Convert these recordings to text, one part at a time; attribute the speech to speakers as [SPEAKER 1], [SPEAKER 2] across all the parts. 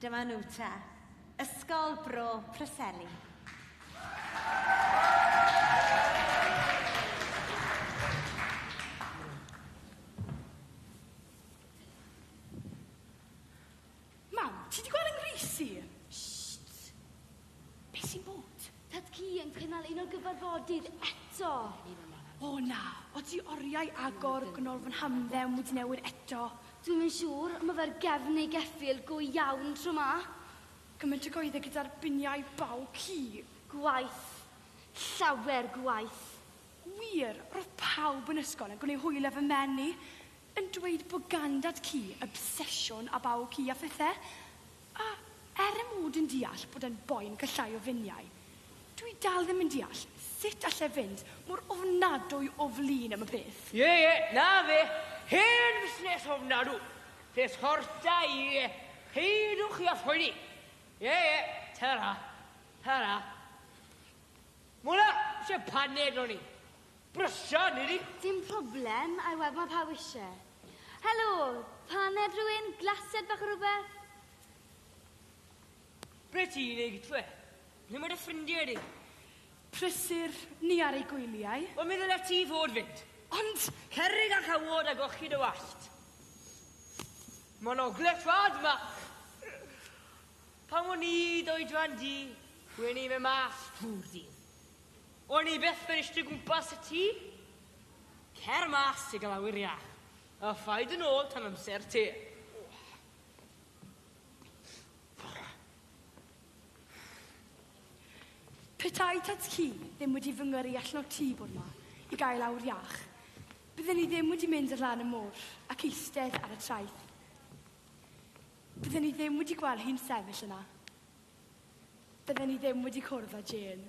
[SPEAKER 1] Dyma nhw te, Ysgol Bro Preseli.
[SPEAKER 2] Mam, ti di gweld yng Ngreisi? Shhh! Be sy'n bod? Tad cu yn cynnal
[SPEAKER 3] un o gyfarfodydd eto! O
[SPEAKER 2] na, odi oriau agor gwnol fy nhamdden wedi newid eto? Dwi'm yn siŵr,
[SPEAKER 3] ma fe'r gefn neu geffyl go iawn tro ma. Gymaint o
[SPEAKER 2] goedde gyda'r biniau baw cudd. Gwaith.
[SPEAKER 3] Llawer gwaith. Wir,
[SPEAKER 2] ro'dd pawb yn ysgol yn gwneud hwyl ef y menni, yn dweud bo gan dad cu obsesiwn a baw cu a phethe. A er 'y mod yn deall bod e'n boen cyllai o finiau, dw i dal ddim yn deall sut all e fynd mor ofnadwy o flin am y peth. Ie, ie, 'na fe,
[SPEAKER 4] hen fusnes ofnadw, peth hort da i, ie, peidiwch chi â phoeni. Ie, ie, ta-ra, ta-ra. Mona, isie paned o'n i? Brysia, nid i? Dim problem,
[SPEAKER 3] I weld ma' pawb isie. Helo! Paned rhywun? Glasiad bach o rhywbeth?
[SPEAKER 4] Ble ti'n ei gytw e? Ble mae dy ffrindiau di? Prysur
[SPEAKER 2] ni ar ei gwyliau. Wel, mi ddyle ti fod
[SPEAKER 4] fynd. Ond! Cerrig
[SPEAKER 2] a chawod
[SPEAKER 4] a golchi dy wallt. Mae'n ogledd rhad ma. Pan o'n i d'oedran di, wen i mewn math drw'r dydd. O'n i byth yn eistedd gwmpas y tŷ. Cer mas i gael awyr iach, a phaid yn ôl tan amser te.
[SPEAKER 2] Petai tad ci ddim wedi fy ngyrru allan o'r tŷ bore 'ma i gael awyr iach, bydden i ddim wedi mynd ar lan y môr ac eistedd ar y traeth. Bydden i ddim wedi gweld hi'n sefyll yna. Bydden i ddim wedi cwrdd â Jane.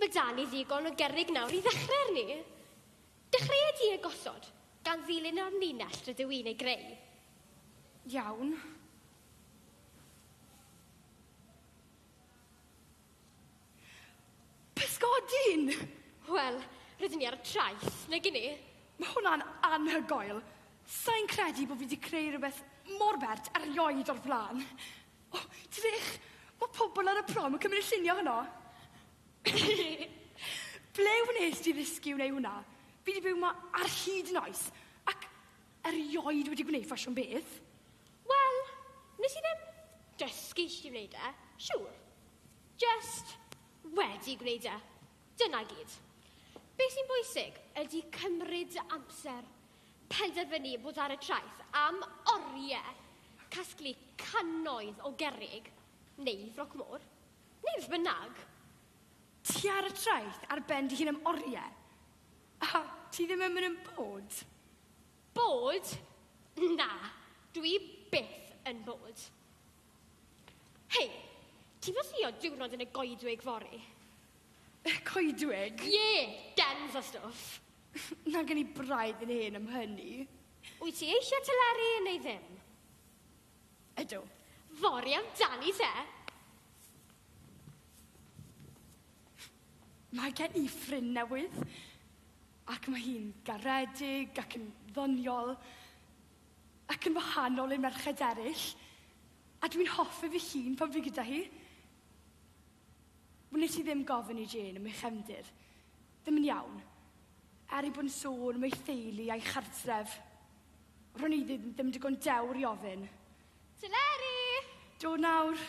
[SPEAKER 5] Mae 'da ni ddigon o gerrig nawr i ddechrau arni. Dechreuai di e gosod, gan ddilyn yr amlinell rydw i'n ei greu.
[SPEAKER 2] Iawn. Pysgodyn! Wel,
[SPEAKER 5] rydyn ni ar y traeth, nag i ni? Mae hwnna'n
[SPEAKER 2] anhygoel. Sa i'n credu bod fi wedi creu rhywbeth mor bert erioed o'r blaen. O, drych! Mae pobl ar y prom yn cymryd y lluniau honno. Ble wnes di ddysgu wneud hwnna? Fi di byw ma ar hyd noes, ac erioed wedi gwneud ffasiwn beth. Wel,
[SPEAKER 5] nes i ddim dysgu i chdi wneud e, siŵr. Just wedi gwneud e. Dyna i gyd. Be sy'n bwysig ydi cymryd dy amser penderfynu bod ar y traeth am oriau casglu cannoedd o gerrig neu froc môr, neu beth bynnag. Ti
[SPEAKER 2] ar y traeth ar ben dy hun am oriau, a ti ddim yn mynd yn bored? Bored?
[SPEAKER 5] Na, dwi byth yn bored. Hei, ti'n pasio diwrnod yn y goedwig fory? Y
[SPEAKER 2] coedwig? Ie,
[SPEAKER 5] gens a stwff. Mae gen i
[SPEAKER 2] braidd yn hen am hynny. Wyt ti eisiau
[SPEAKER 5] teleri neu ddim?
[SPEAKER 2] Ydw. Fory
[SPEAKER 5] amdani te!
[SPEAKER 2] Mae gen i ffrind newydd, ac mae hi'n garedig ac yn ddoniol, ac yn wahanol i'r merched eraill, a dwi'n hoffi fy hun pan fi gyda hi. Wnei ti ddim gofyn i Jane am ei chefndir? Ddim yn iawn. Er ei bod yn sôn am ei theulu a'i chartref, ro'n i ddim ddim digon dewr i ofyn. Teleri! Dod nawr.